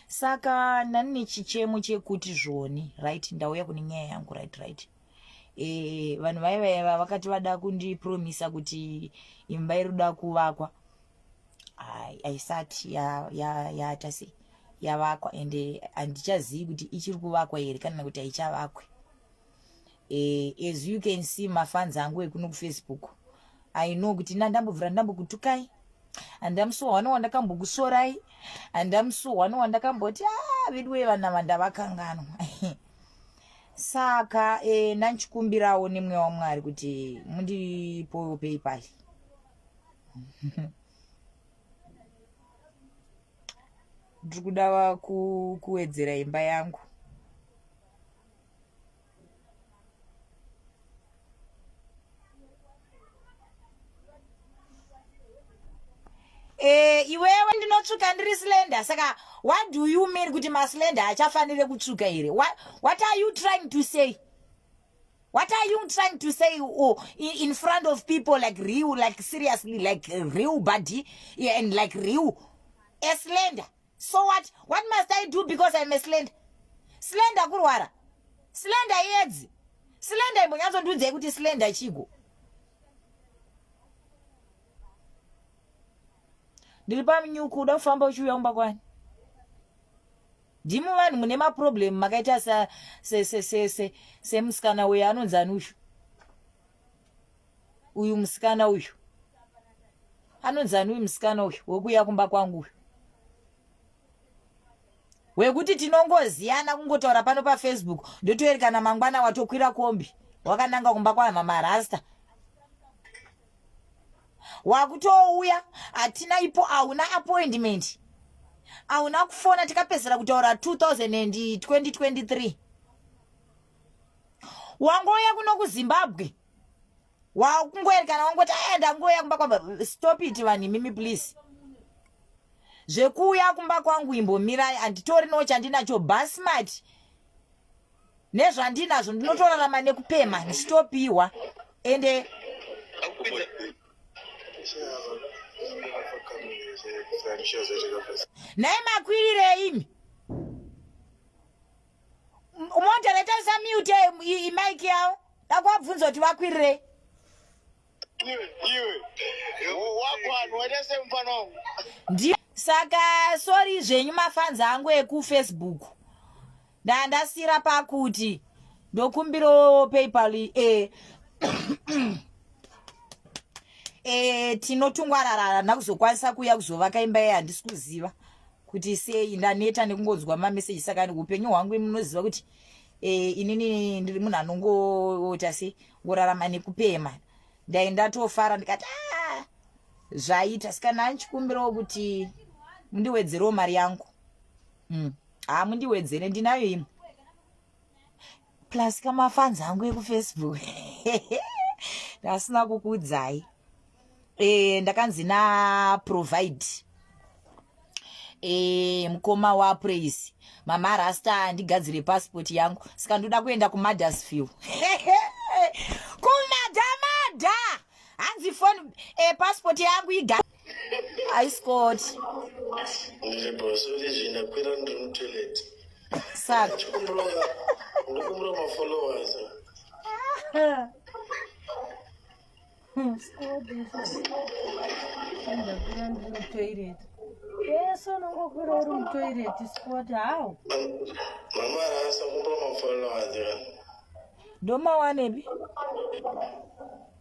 saka ndani nechichemo chekuti zvoni right ndauya kune nyaya yangu right right e, vanhu vaye vaiva vakati vada kundipromisa kuti imba iri kuda kuvakwa haisati yaata ya, sei yavakwa ende handichazivi kuti ichiri kuvakwa here kana kuti haichavakwe eh, as you can see mafans angu ekuno kufacebook i know kuti na ndambobvira ndambokutukai handa musi wano wandakambokusorai handa musi wano wandakamboti a ah, vedu wee vana vandavakanganwa saka e, nanchikumbirawo nemwe wamwari kuti mundipowo paypal ndiri kuda kuwedzera imba yangu Eh, iwewe ndinotsvuka ndiri slender saka what do you mean kuti maslender achafanire kutsvuka here what, what are you trying to say what are you trying to say oh, in front of people like real like seriously like real body yeah, and like real a slender so what what must i do because im a slender slender kurwara slender iedzi slender imbonyatsondiudzai kuti slender chigo ndiri pamnyuku uda kufamba uchiuya kumba kwani ndimi vanhu mune maproblem makaita semusikana uyo anonzi anushu uyu musikana uyu anonzani uyu musikana uyu wekuuya kumba kwangu uyu wekuti tinongoziyana kungotaura pano pafacebook ndotoerekana mangwana watokwira kombi wakananga kumba kwahama marasta wakutouya hatina ipo hauna appointment hauna kufona tikapedzera kutaura 2023 wangouya kuno kuzimbabwe wakungoerekana wangoti aya ndangouya kumba kwamba stop it vanhu imimi please zvekuuya kumba kwangu imbomirai anditori no chandinacho basmart nezvandinazvo ndinotorarama nekupema ndichitopiwa ende nhai makwirire imi Moderator usamute mic yawo. Ndakwabvunza kuti vakwirirei. Iwe, iwe. Wakwanhu waita semufana wangu. Ndiye saka sorry zvenyu mafanzi angu ekufacebook ndandasira pakuti ndokumbirawo paypal e eh, e eh, tinotungwararara ndakuzokwanisa kuya kuzovaka imba ye handisi kuziva kuti sei ndaneta nekungonzwa mameseji saka upenyu hwangu imunoziva kuti e, inini ndiri munhu anongoita se ngorarama nekupema ndai ndatofara ndikati ah, zvaita saka nani chikumbirawo kuti mundiwedzerewo mari yangu mm. haa mundiwedzere ndinayo imwe plus kamafans angu ekufacebook ndasina kukuudzai e, ndakanzi naprovide e, mukoma wapraise mama rasta ndigadzire passport yangu saka ndoda kuenda kumadasville kumadamada hanzi foni e, eh, passport yangu iga I scored. Sad. toilet yeso unongokwira uri mutoilet spot how mama rasa kumba mafollowers ndomawanepi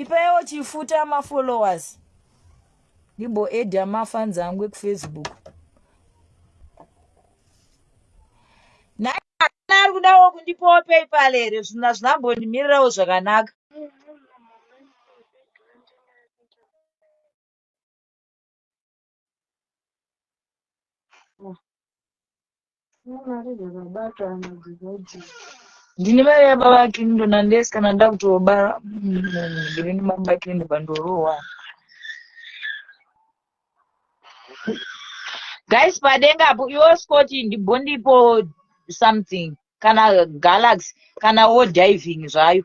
ipaiwo chifuta amafollowers ndimboedha amafans angu ekufacebook naana ari kudawo kundipawo paypal here zvinhu hazvina mbondimirirawo zvakanaka Mari dzakabata ana dzikoti. Ndine mari yababa Clinton unless kana ndakutobara munhu ndiri ndimamba Clinton pandorohwa. Guys padenga apo iwo Scott ndibondipo something kana Galaxy kana wo diving zvayo.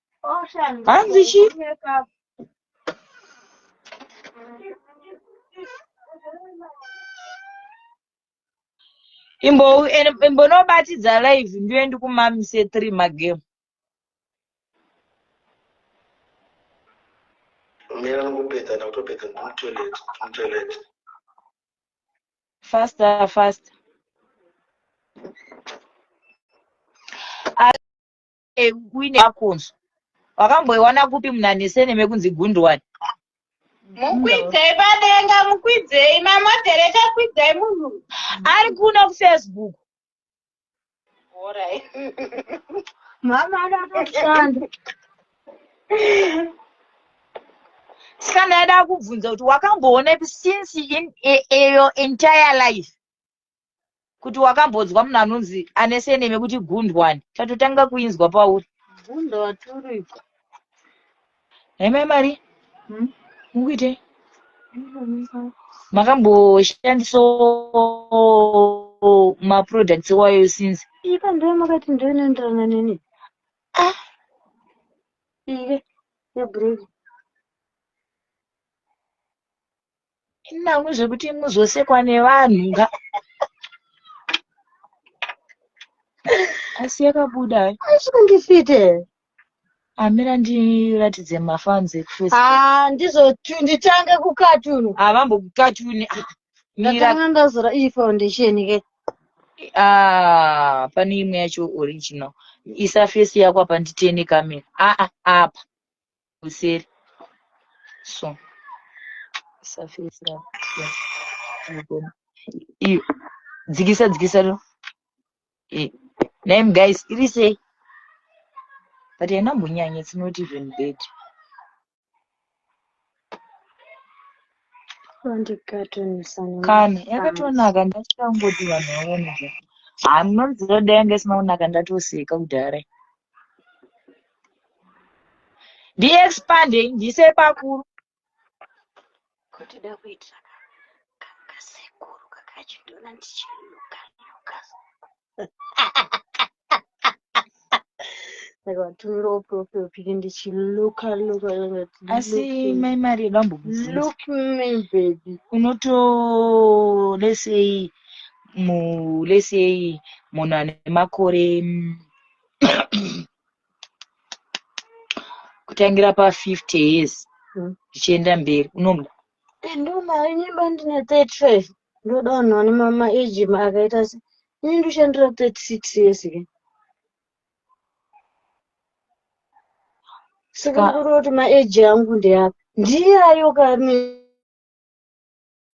hanzi chi imbonobatidza live ndiyo ndikumamise three magame mira nokupedza ndakutopedza ndimtoilet ndimtoilet faster faster uine makunzwa wakamboiwana kupi munanesene mekunzi gundwani mukwidzei padenga mukwidzei mamodereta kwidzai munhu ari kuno kufacebook mama anotoshanda saka ndaida kubvunza kuti wakamboona ipi since in, e, e, your entire life kuti wakambodzwa munhu anonzi ane seneme kuti gundwani tatotanga kuinzwa pauri gundo waturikwa haimai mari hmm? mukuite makamboshandisa maproducts wayo since ika ndiyo makati ndiyo inoenderana neni ah ike yebreak Inangwe zvekuti muzosekwa nevanhu nga. Asi yakabuda. Asi kunge fite. Amira ndiratidze mafans ekufesi. Ah, ndizo nditange kukatuni. Havambo ah, kukatuni. Ah, Ndatanga ndazora iyi foundation ke. Ah, pane imwe yacho original. Isa face yako apa nditene kamera. Ah, ah, apa. kuseri so surface racho iyo dzikisa dzikisa lo eh, name guys iri sei but haina mbonyanya it's not even bad kana yakatonaka ndachangoti vanhu vaone zva hanonzi roda yanga isina kunaka ndatoseka kudhara ndiexpandei ndiise pakuru kotoda kuitira kasekuru kakachindona ndichinuka nuka vakatumira uprofil pic ndichiluka luka asi mai mari yedu ambokuzilook me baby unoto lesei mu lesei munhu ane makore mm, kutangira pa 50 years zvichienda hmm. mberi unoda ndonayo nyimba ndine 35 ndoda vanhu vane mama age akaita se ini ndoshandira 36 years ke saka kuri kuti maeji angu ndeapi ndiyayo kane